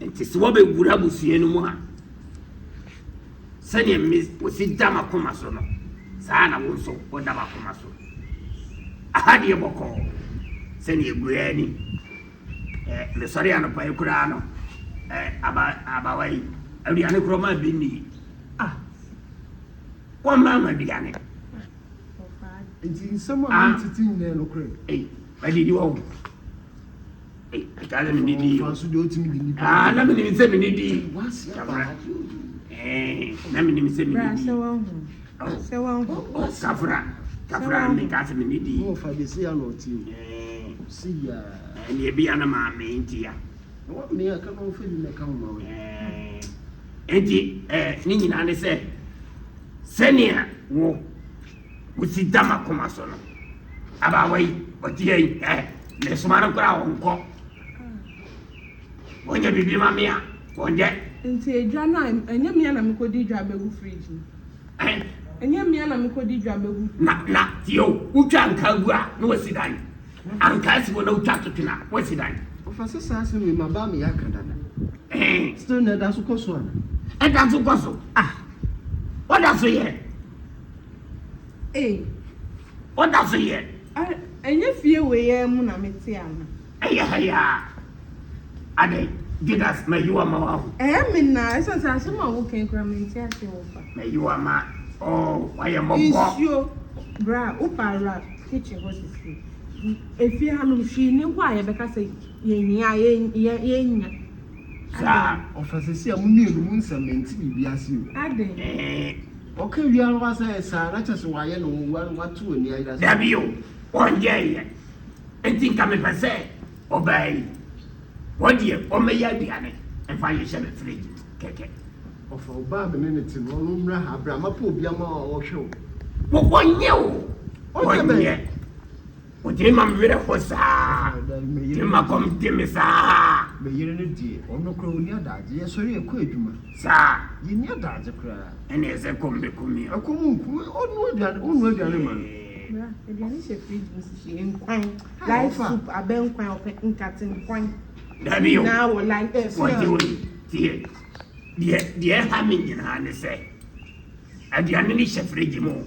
Enti sɛ wɔbɛwura abusua no mu a, sɛdeɛ me wɔsi da m'akoma so no, saa ara na wo nso woda m'akoma so. Aha deɛ bɔkɔɔ sɛdeɛ ɛgu ara ni. Ɛ, mesɔre anɔpa yi koraa no, ɛ, aba, abawa yi, aduane korɔ maa bi nni. Ah, wɔmmaa ma aduane. Nti nsɛm a mentete nyinaa nokorɛ. Ei, madidi wɔ ho. Ɛtaa na mene di o. Aa na menim sɛ mene di. Kafra. Na menim sɛ mene di. Sɛ wahu. Kafra. Kafra me ka sɛ mene di. Mo fa de si ya na ɔti o. Si ya. Ɛne ebi ya na maa me nti ya. Na wɔn ne ya ka na ɔfɛ di na ka ho ma wɔ. Enti ɛɛ ne nyinaa ne sɛ sɛnea wo Wosi da m'akoma so no. Abaawa yi, ɔte yɛ yi, ɛ, mesoma no koraa ɔnkɔ. Wɔnyɛ biribi ma me a, wɔnyɛ. Nti edwa no a, ɛnyɛ me a na mekɔdi dwa bɛgu fridge mu. Ɛ? Ɛnyɛ me a na mekɔdi dwa bɛgu. Na, na, tie o, wotwa ankaa gu a, na wasi dan. Ankaa si hɔ na wotwa toto no a, wasi dan. Ɔfa sɛ saa asɛm wei, m'abaa meyɛ aka dada. Ɛɛ. Still na ɛda so kɔ so anaa? Ɛda so kɔ so. Ah! Ɔda so yɛ. Ei. Woda so yɛ. Ah, ɛnyɛ fie wei ara mu na mete ana? Ɛyɛ ha yi ara. Adɛn, Judas, mayi wo ama woahu. Ɛyɛ me na, ɛsiane sɛ asɛm a woka yi koraa mente aseɛ wɔ fa. Mayi wo ama, oh, woayɛ mmɔbɔ. Nsuo, bra, wopa a wura kitchen hɔ sisi. Efie hanom, hwee nni hɔ a yɛbɛka sɛ yɛhia a yɛnnya. Saa. Adɛn? Ɔfa sisi a mo mmienu mo nsɛm mente biribi ase o. Adɛn? Eh. Ɔka wia no asɛ saa na kyɛsɛ wayɛ no nwonwa no wato ani ayera saa. Dabi o ɔnyɛɛyɛ nti nka mepɛ sɛ ɔbaa yi hɔ deɛ ɔmmɛyɛ aduane mfa nhyehyɛ me fridge mu kɛkɛ. Ɔfa ɔbaa me ne no te no ɔno mmra ha bra mapɛ obi ama wo a ɔhwɛ wo. Wo ɔnyɛ o ɔnyɛ. Ɔgyina ma me werɛ ho saa. Ɔgyina ma kɔm de me saa. Me yere no deɛ, ɔno koraa ɔnni adagye. Yɛsɔre a yɛkɔ adwuma. Saa. Yɛnni adagye koraa. Ɛna ɛsɛ kɔm bɛku me a. Ɛkɔm nku me. Ɔnoa aduane, wonoa aduane ma no. Bra, aduane hyɛ fridge mu sisi. Nkwan, live soup, abɛ nkwan, ɔpɛ nkate nkwan. Dabi o. Naa wɔ live, eh, sɛ. Wɔgye wo yi, tie. Deɛ, deɛ ɛha me nyinaa ne sɛ, aduane no hyɛ fridge mu o.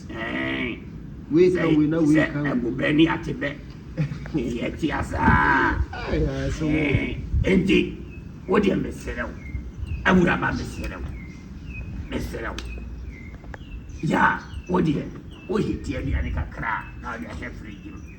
Ɛɛn, Wei ka sɛ wei na wei sɛ ka wei. ɛbobɛ ne atebɛ yɛ te asaa Ai, ai, sɛ wo. Ɛɛn, enti wo deɛ meserɛ wo awuraba meserɛ wo meserɛ wo ya wo deɛ wo heatie aduane kakra a na wode ahyɛ fridge mu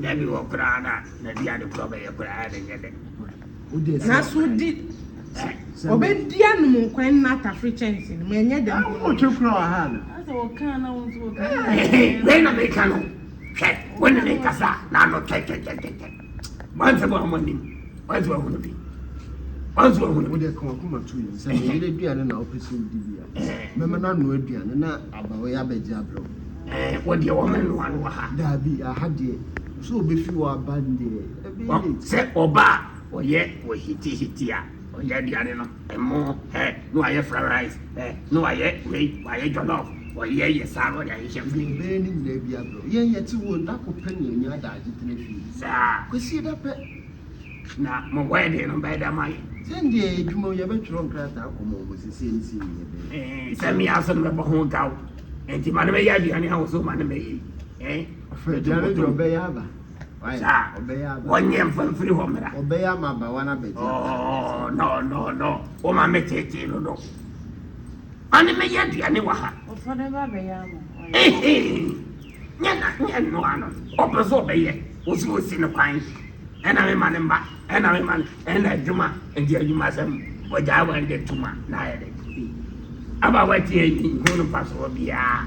Dabi wɔ koraa na na di ade korɔ bɛyɛ koraa na nyɛ dɛ. Na so di ɔbɛ di anum nkwan na atafere kyɛnse no ma ɛnyɛ dɛ. Awo ɔtwe kura wɔ ha no. Asɛ wɔ kan na wɔn nso wɔ kan. Wei na mi ka no hwɛ wɔn na mi kasa na ano twɛtwɛtwɛtwɛ. Wansa bɔ ɔmo anim. Wansa wɔn ahono bi. Wansa wɔn ahono bi. Wode ka wakoma to yi. Sɛ meyere aduane na wopɛ sɛ wodi bi a. Mɛma no ano aduane na aba wei abɛgye abrɛw. Ɛɛ wɔdeɛ wɔn anoa no wɔ ha. Daabi aha deɛ. Sɛ obefi wɔ aba deɛ. Ɛbɛyɛ late. Sɛ ɔba a ɔyɛ wɔ hiti hiti a. Ɔyɛ aduane no ɛmo ɛ na wayɛ fried rice ɛ na wayɛ wei wayɛ jollof ɔyɛ yɛ saa na ɔde ahyehyɛ mu. Nea ɛbɛyɛ ne nyinaa bi abrɛ wo. Yɛn yɛte hɔ da ko pɛ na yɛanya adaagye tena fie. Saa. Kwasie da pɛ. Na mo wedding no bɛyɛ dɛ ama yɛ. Sɛ ndeɛ ɛyɛ adwuma o yɛbɛtwerɛ nkrataa akɔ ma wɔn seisei ne sei ne yɛbɛyɛ. Ɛɛ sɛ me aso no mɛbɔ ho gaw nti ma no mɛyɛ aduane a wo so ma no mɛyɛ yi ɛɛ. Aduane deɛ ɔbɛyɛ aba. Saa. Wɔnyɛ mfa mfiri hɔ mmra. Ɔbɛyɛ ama abawa no abɛgye. Oh, no, no, no. Wo ma me tete no do. Ɔne me yɛ aduane wɔ ha. Ɔfɔ ne ba bɛyɛ ama. Ehe. Nyɛ na nyɛ nnoa no. Ɔpɛ so ɔbɛyɛ. Wo so osi no kwan. Ɛna me ma ne mba. Ɛna me ma ne. Ɛna adwuma. Nti adwuma sɛm. Ɔgyaa wɔn de tuma. Na ayɛ de. Abawa tie yi. Hu no fa so wɔ biara.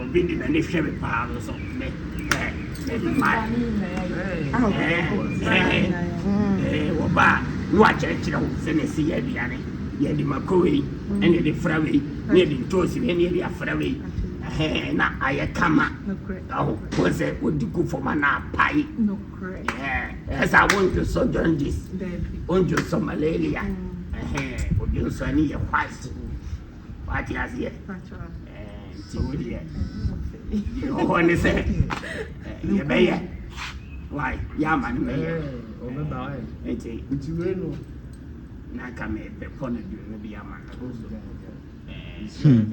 Obi de n'ani hwɛ me paa no so me ɛɛ me mmaa ɛɛ ɛɛ wɔba a na wakyerɛkyerɛ wo sɛ na ɛsi yɛ aduane yɛde mako wei ɛna yɛde fra wei na yɛde ntoosi wei na yɛde afra wei ɛhɛn na ayɛ kama ɛho wɔn sɛ wɔdi ku fam ana apae ɛɛ ɛsɛ a wɔn ntwesɔ jaundice wɔn ntwesɔ malaria ɛhɛn wɔn ntwesɔ ani yɛ white. wate aseɛ nti wo deɛ deɛ wɔ hɔ ne sɛ yɛbɛyɛ wai yɛama no bɛyɛ nti na nka mebɛpɔ no duno bi ama no so hmm.